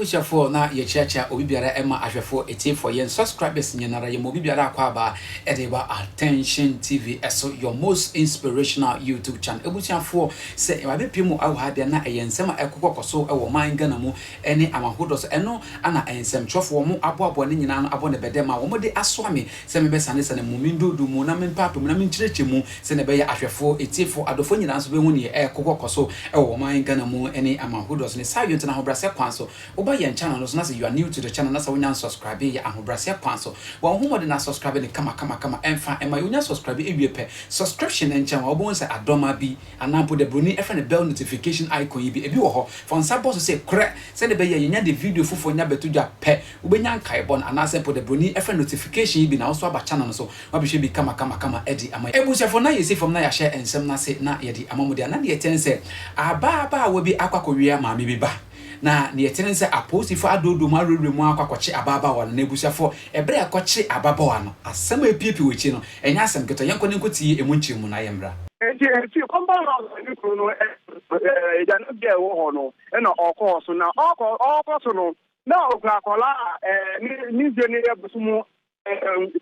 abusuafoɔ na yɛkyeakyea obi biara ɛma ahwɛfoɔ etiefo yɛn subscribers nyinara yɛma obi biara akɔ aba ɛde ba attention tv ɛso your most inspirational youtube channel abusuafoɔ sɛ ɛwade pie mu awɔ ha deɛ na ɛyɛ nsɛm a ɛkokɔkɔ so ɛwɔ man ghana mu ne awahodɔ so. Ɛno na nsɛmtwerɛfoɔ, wɔn aboaboa ne nyinaa no abɔ no bɛdɛ ma wɔde asoa me sɛ memmɛsanesane mo, mendoodo mo, na mempaape mo, na menkyerɛkyɛ mu, sɛdeɛ ɛbɛyɛ ahwɛfoɔ, atiefoɔ, adɔfoɔ nyinaa nso bɛhu deɛ ɛrekɔ hɔ kɔ so wɔ ɔman Ghana mu ne awahodɔ so. Ne saa yonto no ahobrɛaseɛ kwan so. Woba yɛn channel no so na sɛ you are new to the channel na sɛ wonya nsubscribee yɛ ahobrɛaseɛ kwan so. Bɔ wo ho mmɔden na subscribe no kama kama kama. Ɛmfa mma yɛ, wonya subscribee wie pɛ, subscription nkyɛn wo a, wobɛhu sɛ adɔma bi. Anaa mpo dɛ broni frɛ no bell notification icon yi bi, ebi wɔ hɔ. Fa wo nsa bɔ so sɛ Krɛ! sɛnea ɛbɛyɛ a yenya de video foforo nya bɛto dwa pɛ, wobenya nkaebɔ no, anaasɛ mpo dɛ broni frɛ no notification yi bi na wo nso aba channel no so na wabɛhwɛ bi kamakamakama adi ama yɛn. Abusuafo, na yɛsi fam na yɛahyɛ nsɛm no ase na yɛde ama mo de a, na deɛ ɛkyɛn sɛ ababaawa bi akɔ akɔwea maame bi ba. Na nea ɛte ne sɛ apolisifo adoodoo mu awerɛwerɛ mu ara kɔ akɔkye ababaawa no, n'abusuafo, bere a ɛkɔkye ababaawa no. Asɛm a epuepue wɔ akyiri no, ɛnyɛ asɛm ketewa. Yɛnkɔ na yenkotie emu nkyerɛmu na yɛmmra. Enti efi Compound House a ne kunu no te agyanan bi a ɛwɔ hɔ no na ɔkɔɔ so. Na ɔkɔ ɔkɔ so no, na okura akwadaa a ne mfe no yɛ bosome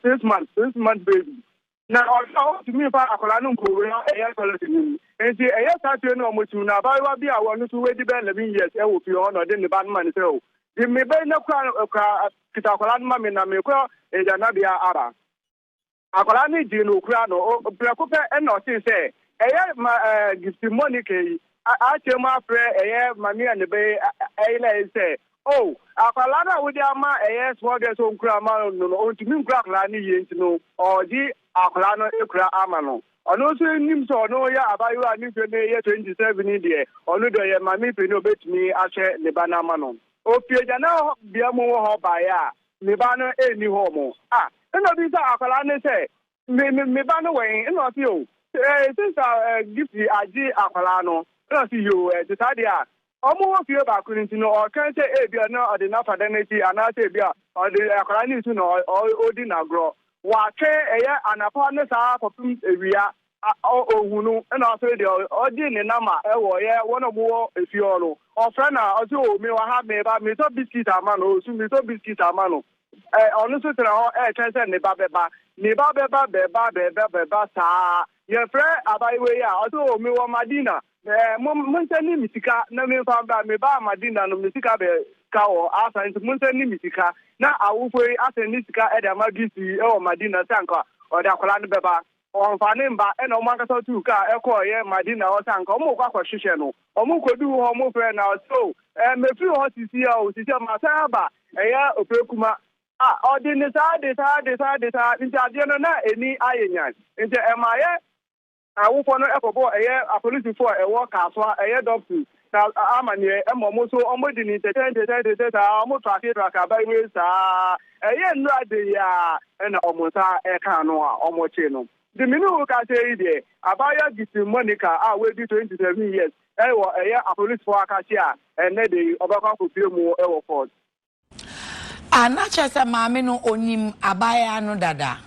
six months, six months baby. Na ɔhwɛ a, ontumi mfa akwadaa no nkowura ɛyɛ tɔlɛt no mu. Enti ɛyɛ saa fie no a wɔsiw no. Abaayewa bi a ɔno nso wadi bɛyɛ eleven years wɔ fie hɔ na ɔde ne ba no ma no sɛ, O, gye me ba yi na kura no, kura, kita akwadaa no ma me na merekɔ adwannabea aba. Akwadaa no gyee no, okura no. O, prɛko pɛ na ɔtee sɛ ɛyɛ ma, ɛɛ, Gift Monica yi a, ateɛ mu afrɛ ɛyɛ Maame a ne ba yi ayera yi sɛ Oh akwadaa no a wode ama ɛyɛ small girl sɛ ɔnkura ma no no ɔntumi nkura akwadaa no yie nti no ɔgye akwadaa no kura ama no ɔno nso nim sɛ ɔno yɛ abayewa a ne mfeɛ no yɛ 27 yi deɛ ɔno deɛ ɔyɛ maame panin ɔbɛtumi ahwɛ ne ba no ama no ɔfiri agyananbea mu wɔ hɔ baeɛ a ne ba no nni hɔ mo a ɛna ɔbisa akwadaa no sɛ Me me me ba no wɔ he? Nna ɔse, Oh, eh, since ah eh, Gift agye akwadaa no. Nna ɔse, Yoo, eh, te saa deɛ a, wɔn wɔ fie baako no nti no, ɔka sɛ ebia na ɔde no afa dan no akyi anaasɛ ebia ɔde akwadaa no nsu na ɔ, ɔ, ɔdi no agorɔ. Watwe ɛyɛ anapa ne saa kɔpem awia, a, ɔ, ɔnhu no. Nna afei deɛ ɔ, ɔgye ne namba wɔ ɔyɛ wɔn a wɔwɔ efie hɔ no, ɔfrɛ no a, ɔse, Oh, mewɔ ha, meba, metɔ biscuit ama no, ɔsu, metɔ biscuit ama no. Ɛ, ɔno nso tena hɔ retwɛn sɛ ne ba bɛba, ne ba bɛba, bɛba, bɛba, bɛba saa ara. Yɛfrɛ abaayewa yi a, ɔse, O, mewɔ Madina. Ɛ, mo, monsan nni me sika na memfa mbra. Mebaa Madina no, me sika bɛ ka hɔ asa, nti monsan nni me sika. Na awofoɔ yi asan ne sika de ama Gisi yi wɔ Madina sɛ anka ɔde akwadaa no bɛba. Wɔfaa ne mma na wɔn ankasa tuu kaa kɔeɛ Madina hɔ sɛ anka wɔrekɔ akɔhwehwɛ no. Wɔkɔduu hɔ, wɔfrɛɛ no, ɔse, O, ɛɛ, mefiri hɔ sisia o, sisia masan aba. Ɛyɛ opirakuma. Ah, ɔde ne saa de saa de saa de saa, nti adeɛ no na ani ayɛ nyan. Nti ɛma yɛ awofoɔ no kɔbɔɔ ɛyɛ apolisifoɔ a ɛwɔ Kasoa, ɛyɛ Dɔpsis. Na amaneɛ ma ɔmo so ɔmo de ni tɛtɛ ntɛtɛ tɛtɛ saa ɔmo trake trake aban wei saa ɛyɛ nnura de yi aa ɛna ɔmo nsa ɛka ano a ɔmo kye no de me ne wo kasa yi deɛ abaayewa Gifty Monica a w'adi twenty seven years ɛwɔ ɛyɛ apolisifoɔ akakye a ɛnnɛ de yi ɔbɛkɔ akɔ pue mu ɛwɔ court. Ah, na kyerɛ sɛ maame no onim abaayaa no dada?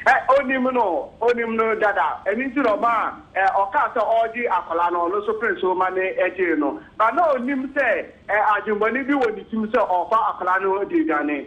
Ɛ, onim no, onim no dada. Ɛno nti na ɔma ɛ, ɔkaa sɛ ɔregye akwadaa no, ɔno nso pene so ma ne gyee no. Ba na onim sɛ ɛ, adwemmɔne bi wɔ ne tirim sɛ ɔrefa akwadaa no de aduane.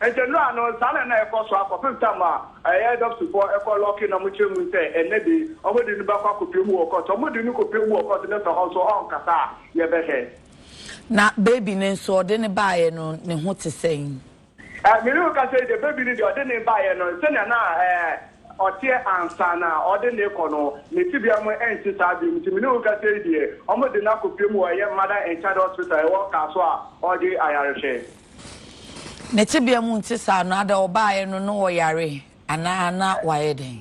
Enti no ara no, saa na na ɛkɔ so ara kɔpem ta ma ɛyɛ dɔpsifɔɔ ɛkɔ lɔki na ɔmo kyerɛ mu sɛ ɛnnɛ de ɔmo de no bɛkɔ akɔpue mu wɔ kɔt. Sɛ ɔmo de no kɔpue mu wɔ kɔt na sɛ ɔnso ɔnkasa a, yɛbɛhwɛ. Na baby no nso, ɔde no baeɛ no, ne ho te sɛn? Ɛɛ, me ne wo kasa yi deɛ, baby no deɛ ɔde no baeɛ no, sɛnea na ɛɛ ɔteɛ ansa na ɔde no rekɔ no, ne tebea mu ɛnte saa bio. Nti me ne wo kasa yi deɛ, ɔmo de no akɔpue mu wɔ ɛyɛ Mother and Child Hospital a ɛwɔ Kasoa a ɔregye ayarehwɛ. Ne tebea mu nte saa no, ada ɔbaeɛ no na ɔyare anaa na wayɛ dɛn?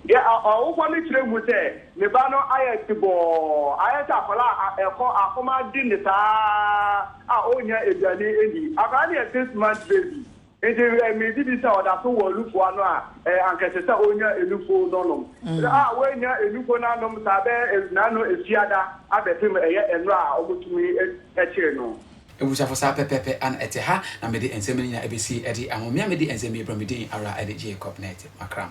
Yɛ a ɔwofoɔ no kyerɛ hu sɛ ne ba no ayɛ tebɔɔ, ayɛ sɛ akwadaa a ɛkɔ akɔm ade no saa a ɔnnya aduane nni. Akwadaa no yɛ six months baby, nti me gye di sɛ ɔda so wɔ nufoɔ ano a, anka ɛsɛ sɛ ɔnya nufuo no nom. Berɛ a wannya nufuo no anom saa bɛyɛ nnanu asia da abɛpem ɛyɛ nnora a wɔtumi kyere no. Abusuafo saa pɛpɛɛpɛ ara na ɛte ha na mede nsɛm no nyinaa besie ɛde ahomea mede nsɛm yi brɛ me din ara ɛne Jacob na ɛte makram.